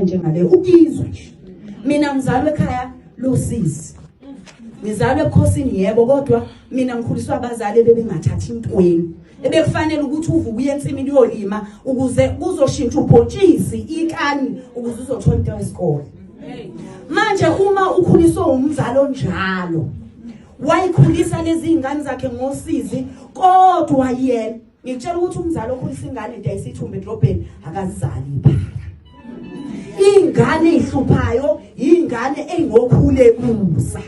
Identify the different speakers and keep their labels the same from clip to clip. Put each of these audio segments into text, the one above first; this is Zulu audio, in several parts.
Speaker 1: njengale ukizwe nje mina ngizalwe ekhaya losisi ngizalwe ebukhosini yebo kodwa mina ngikhuliswa abazali bebengathathi intweni ebekufanele ukuthi uvuke uye ensimini uyolima ukuze kuzoshintsha ubhontshisi ikani ukuze uzothola into yesikole manje uma ukhuliswe umzali onjalo wayikhulisa lezi ngane zakhe ngosizi kodwa yena Ngikutshela ukuthi umzali okhulisa ingane idayisa ithumbe edrobheni akazali iphara. Ingane ihluphayo ingane engokhule kusa.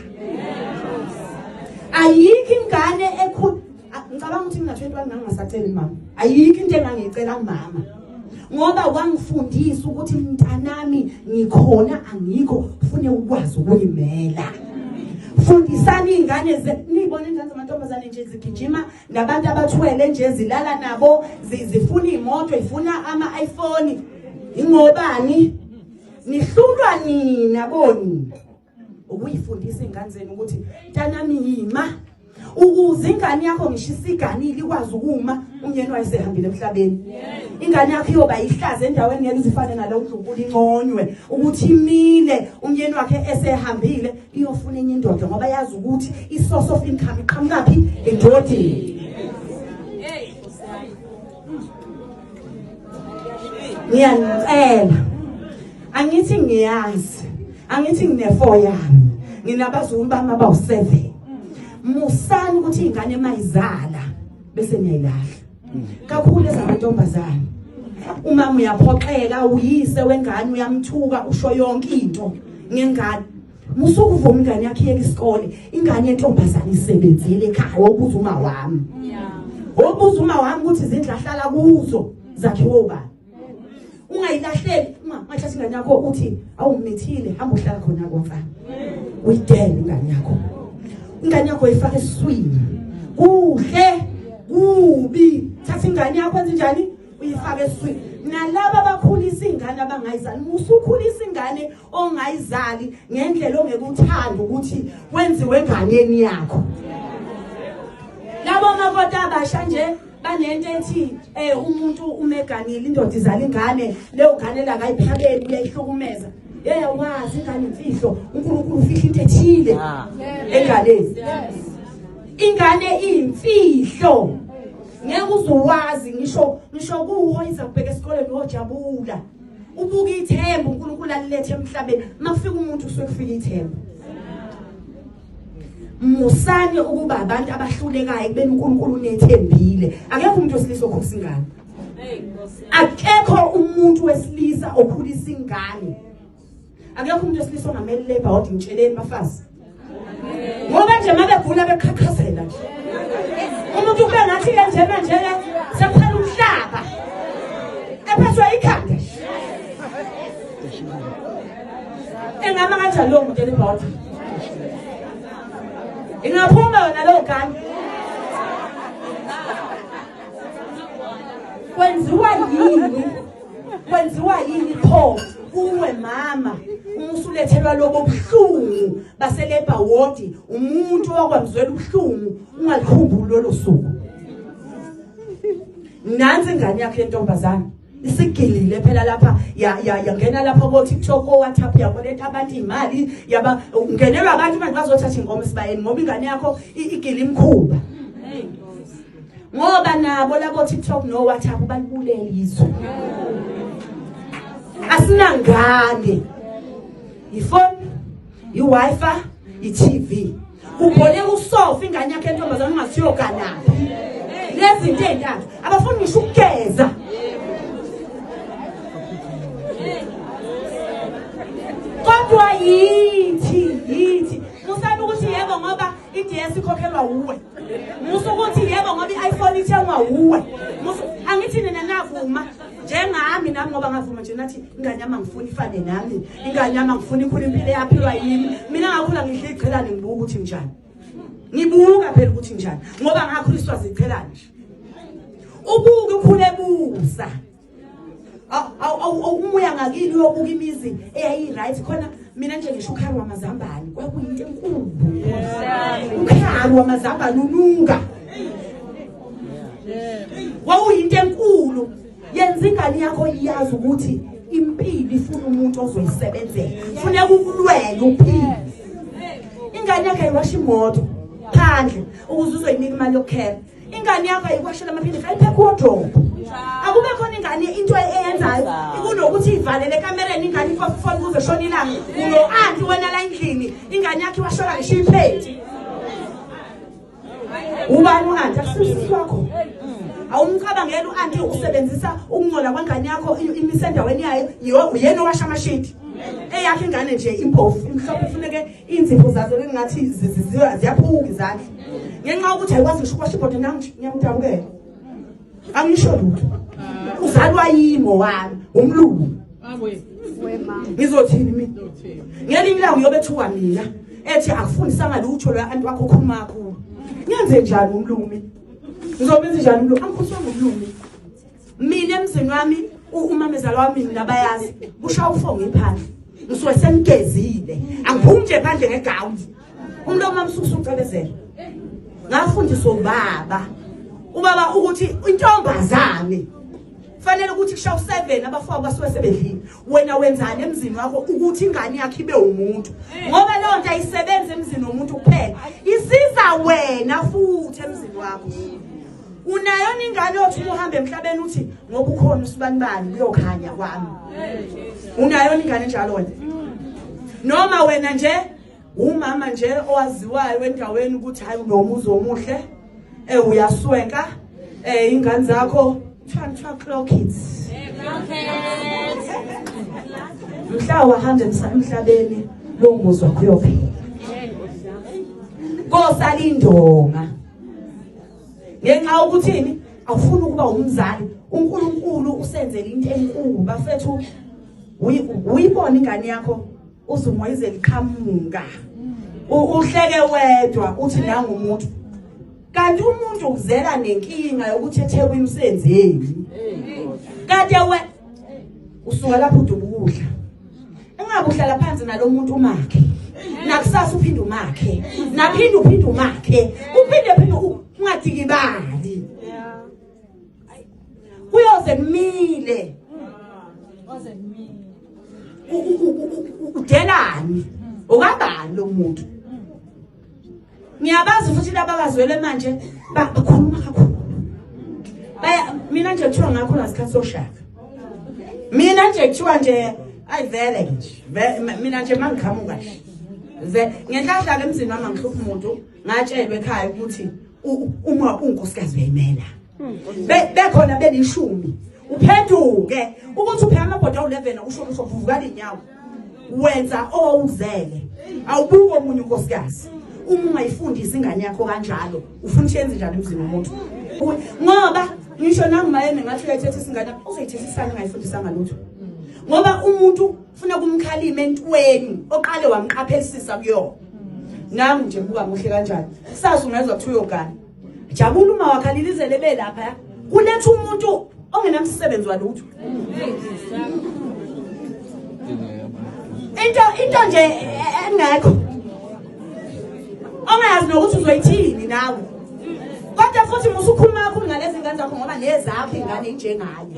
Speaker 1: Ayikho ingane ekhul ngicabanga ukuthi mina 21 ngangingasaceli mama. Ayikho into engangicela mama. Ngoba wangifundisa ukuthi mntanami ngikhona angikho ufune ukwazi ukuyimela. Fundisani ingane ze nibona ingane zamantombazane nje zigijima nabantu abathwele nje zilala nabo zifuna iy'moto ifuna ama-iphone ingobani nihlulwa nina bonina ukuyifundisa iy'ngane zenu ukuthi mntanami yima ukuze ingane yakho ngisho isiganile ikwazi ukuma umyeni wayo sehambile emhlabeni ingane yakho iyoba yihlaza endaweni ngeke izifane nalo ndlunkulu inconywe ukuthi imile umyeni wakhe esehambile iyofuna enye indoda ngoba yazi ukuthi i-source of income iqhamukaphi endodeni ngiyanicela angithi ngiyazi angithi nginefo yami nginabazukulu bami abawu-seven musani ukuthi iy'ngane mayizala bese niyayilahla kakhulu ezamantombazane umama uyaphoxeka uyise wengane uyamthuka usho yonke into ngengane musuku uvuma ingane yakhe yeke isikole ingane yentombazane isebenzile ekhaya wokuza uma wami wokuza uma wami ukuthi izindlu ahlala kuzo zakhiwe ubani ungayilahleli uma mathi ingane yakho uthi awumithile hamba uhlala khona kwamfana uyidele ingane yakho ingane yakho ifake eswini kuhle kubi thatha ingane yakho enze njani uyifake eswini nalabo abakhulisa ingane abangayizali musukhulisa ingane ongayizali ngendlela ongekuthanda ukuthi wenziwe enganeni yakho labo makoti abasha nje banento ethi um umuntu umeganile indoda izala ingane leyo ngane lakayiphabeli uyayihlukumeza yeyawazi ingane imfihlo unkulunkulu ufihla into ethile ah. enganeni ingane iyimfihlo ngeke uzowazi ngisho ngisho kuwo iza kubheka esikoleni uyojabula ubuka ithemba unkulunkulu alilethe emhlabeni uma kufika umuntu kusuke kufika ithemba musani ukuba abantu abahlulekayo kubeni uNkulunkulu unethembile akekho umuntu wesilisa okhulisa ingane akekho umuntu wesilisa okhulisa ingane akekho umuntu wesilisa ongameli labor ward ngitsheleni bafazi ngoba nje mabegula bekhakhazela nje umuntu kube ngathi kanjena nje sekuphela umhlaba ephethwe ikhanda engama kanjani lowo muntu elibhoda ingaphuma yona lowo gani kwenziwa yini kwenziwa yini pho kuwe mama umusulethelwa lobo buhlungu baselebha wodi umuntu wakwamzwela ubuhlungu ungalikhumbuli lolo suku nansi ingane yakhe lentombazane isigilile phela lapha yangena lapha ko-tiktok o-whatsapp yakoleta abantu iy'mali yaba ungenelwa abantu manje bazothatha ingoma esibayeni ngoba ingane yakho igile imkhuba ngoba nabo labo tiktok no-whatsapp balibulele izwe asinangane yifoni i-wifi i-tv ubhole usofa ingane yakhe entombazane ungasiyoganaphi lezinto ey'ntathu abafuni ngisho ukugeza kodwa yithi yithi musana ukuthi yebo ngoba i-ds ikhokhelwa wuwe musa ukuthi yebo ngoba i-iphone ithengwa wuwe angithi nina navuma njengami nami ngoba ngavuma nje nathi ingane yami angifuni ifane nami ingane yami angifuni ikhula impilo eyaphilwa yimi mina ngakhula ngidla iqhelane ngibuka ukuthi njani ngibuka phela ukuthi njani ngoba ngakhuliswa ziqhelane nje ubuke ukhule busa awumuya ngakini uyobuka imizi eyayi-right khona mina nje ngisho ukhari wamazambane kwakuyinto enkulu ukhari wamazambane ununga wawuyinto enkulu yenza ingane yakho iyazi ukuthi impilo ifuna umuntu ozoyisebenzela funeka ukulwela uphile ingane yakhe ayiwasha imoto phandle ukuze uzoyinika imali yokukhela ingane yakho ayikwashela amaphilisi ayiphekho wodrobo akube khona ingane into eyenzayo kunokuthi ivalele ekamereni ingane ifofifona kuze shona ilanga uno-anti wena la endlini ingane yakho iwashola ngisho iphethi ubani u-anti akusisisi wakho awumcabangela u-anti usebenzisa ukungcola kwengane yakho imisendaweni yayo uyena owasha amashidi eyakhe ingane nje impofu imhlophe ifuneke Iinzipho zazo bengingathi ziyaphuka izandla. Ngenxa yokuthi ayikwazi ngisho ukwasha ibhodwe nam ngiyamdabukela. Angisho lutho. Uzalwa yimo wami, umlungu. Ngizothini mina? Ngelinye ilanga uyobe ethuka mina ethi akufundisanga lutho lo anti wakho khuluma kakhulu. Ngenze njani umlungu mina? Ngizobenza njani umlungu? Angikhuluma ngomlungu mina. mina emzini wami umamezala wami mina bayazi kusha ufonga iphandle ngisuke semgezile angiphumi nje phandle ngegown umuntu omamsusa ucebezela ngafundiswa ubaba ubaba ukuthi intombazane fanele ukuthi kusha u7 abafowabo basuke sebedlile wena wenzani emzini wakho ukuthi ingane yakhe ibe umuntu ngoba leyo nto ayisebenzi emzini womuntu kuphela isiza wena futhi emzini wakho unayo ningane othi uhambe emhlabeni uthi ngoba ukhona usibanibani kuyokhanya kwami unayo ningane njalo wena noma wena nje umama nje owaziwayo endaweni ukuthi hayi unomuzi omuhle eh uyaswenka eh ingane zakho kuthiwa clock kids mhla wahamba emhlabeni lo muzi wakho uyophela kosala indonga ngenxa yokuthini awufuni ukuba umzali uNkulunkulu usenzele into enkulu bafethu uyibona ingane yakho uzumoyize liqhamuka uhleke wedwa uthi nangu umuntu kanti umuntu ukuzela nenkinga yokuthi ethekwe imsenzeni kade we usuka lapho udubukudla ungabe uhlala phansi nalomuntu umakhe nakusasa uphinde umakhe naphinde uphinde umakhe uphinde phinde ungadikibali kuyoze kumile udelani ukabani lo muntu ngiyabazi futhi laba bazwele manje bakhuluma kakhulu baya mina nje kuthiwa ngakho ngasikhathi soshaka mina nje kuthiwa nje ayi vele nje mina nje mangiqhamuka nje ngenhlahla ke emzini wami angihluphi umuntu ngatshelwe ekhaya ukuthi uma unkosikazi uyayimela bekhona belishumi uphenduke ukuthi upheka amabhoda awu-11 usho usho vuvukala iy'nyawo wenza owuzele awubuke omunye unkosikazi uma ungayifundisi ingane yakho kanjalo ufuna ukuthi yenze njani emzini womuntu ngoba ngisho nangumayeni ngathi uyayithetha isingane uzoyithetha isane ungayifundisanga lutho ngoba umuntu ufuna kumkhalima entweni oqale wamqaphelisisa kuyona nangu nje buka muhle kanjani sazi ungezwa kuthiwa uyogana jabula uma wakhalile izele belapha kuletha umuntu ongenamsebenzi walutho into into nje engekho ongayazi nokuthi uzoyithini nawe kodwa futhi musukhuluma kakhulu ngalezi ngane zakho ngoba nezakho ingane injengaye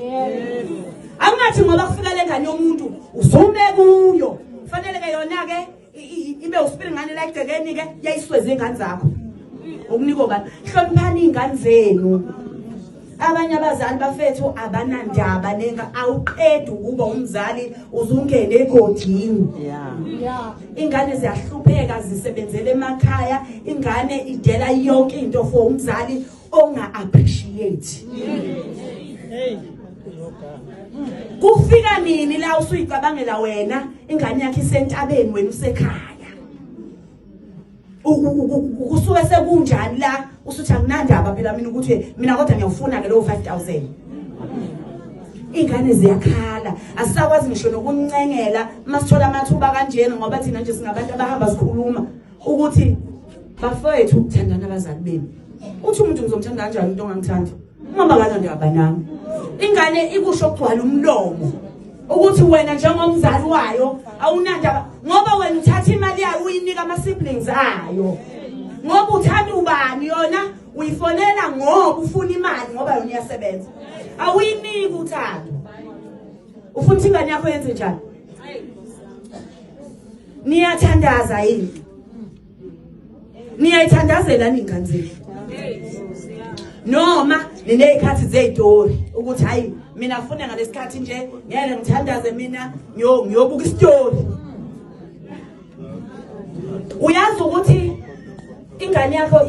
Speaker 1: angathi ngoba kufika le ngane yomuntu uzume kuyo fanele ke yona-ke ibe usipili ngane la egcekeni ke yayisweza ingane zakho ukuniko ngani hloniphani ingane zenu abanye abazali bafethu abanandaba nenga awuqedi ukuba umzali uzungene egodini ingane ziyahlupheka zisebenzele emakhaya ingane idela yonke into for umzali onga appreciate hey kufika nini la usuyicabangela wena ingane yakhe isentabeni wena usekhaya kusuke sekunjani la usuthi akunandaba phela mina ukuthi mina kodwa ngiyawufuna ke lowo 5000 ingane ziyakhala asisakwazi ngisho nokuncengela masithola amathuba kanjena ngoba thina nje singabantu abahamba sikhuluma ukuthi bafowethu ukuthandana abazali benu uthi umuntu ngizomthanda kanjani umuntu ongangithandi uma bangana ndiyabanami ingane ikusho kugcwala umlomo ukuthi wena njengomzali wayo awunandaba ngoba wena uthatha imali yayo uyinika ama-siblings ayo ngoba uthanda ubani yona uyifonela ngoba ufuna imali ngoba yona iyasebenza awuyiniki uthando ufuna ukuthi ingane yakho yenze njani niyathandaza yini niyayithandazela ninganzeli noma ninezikhathi zezitori ukuthi hayi mina funa ngalesikhathi nje ngeke ngithandaze mina ngiyobuka isitori uyazi ukuthi ingane yakho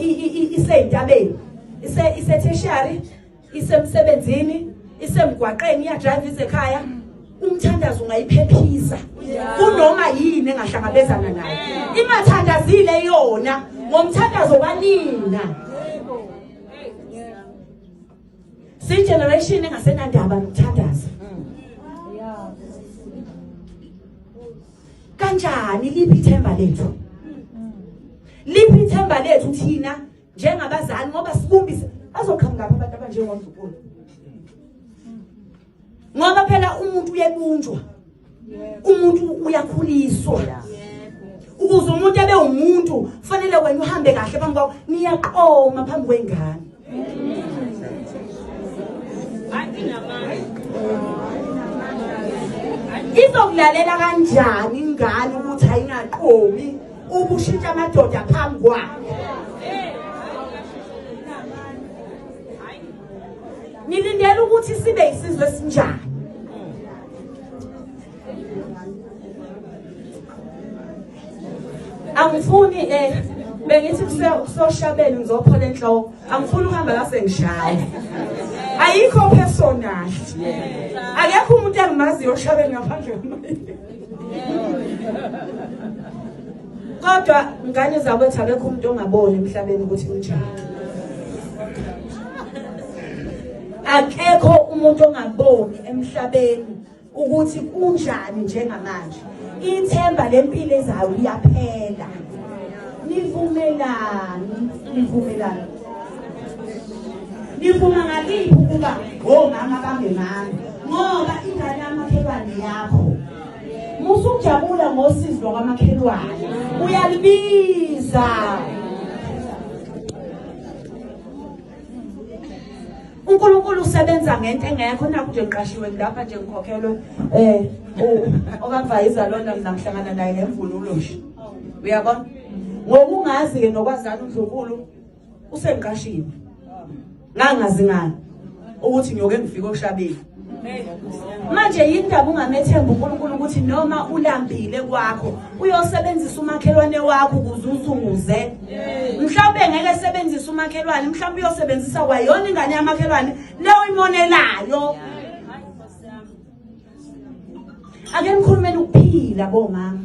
Speaker 1: iseyintabeni ise ise tertiary isemsebenzini isemgwaqeni iyadrayiva izekhaya umthandazo ungayiphephisa kunoma yini engahlangabezana nayo imathandazile yona ngomthandazo kanina siyigeneration engasenandaba nokuthandaza kanjani liphi ithemba lethu liphi ithemba lethu thina njengabazali ngoba sibumbise bazoqhamukaphi abantu abanjengondlukulu ngoba phela umuntu uyebunjwa umuntu uyakhuliswa ukuze umuntu abe umuntu kufanele wena uhambe kahle phambi kwawo niyaqoma phambi kwengane izokulalela kanjani ingane ukuthi ayingaqomi ubushintsha amadoda phambi kwakhe nilindela ukuthi sibe isizwe esinjani angifuni eh bengithi kusoshabela ngizophola enhloko angifuni ukuhamba la sengishaya ayikho personal akekho umuntu engimaziyo oshabela ngaphandle kwemali kodwa ngane zakwethu akekho umuntu ongaboni emhlabeni ukuthi unjani akekho umuntu ongaboni emhlabeni ukuthi kunjani njengamanje ithemba lempilo ezayo liyaphela nivumelani nivumelani nifuna ngaliphi ukuba ngomama bangemami ngoba ingane yamakhelwane yakho musa ukujabula ngosizi lwakamakhelwane uyalibiza uNkulunkulu usebenza ngento engekho naku nje ngiqashiwe ngilapha nje ngikhokhelwe eh okavayizalonda mina ngihlangana naye ngemvunulo nje uyabona ngokungazi ke nokwazana uNdlunkulu usengiqashile ngangazi ngani ukuthi ngiyoke ngifike oshabeni manje yindaba ungamethemba uNkulunkulu ukuthi noma ulambile kwakho uyosebenzisa umakhelwane wakho ukuze usunguze mhlawumbe ngeke sebenzisa umakhelwane mhlawumbe uyosebenzisa kwayona ingane yamakhelwane leyo imonelayo ake nikhulumele ukuphila bomama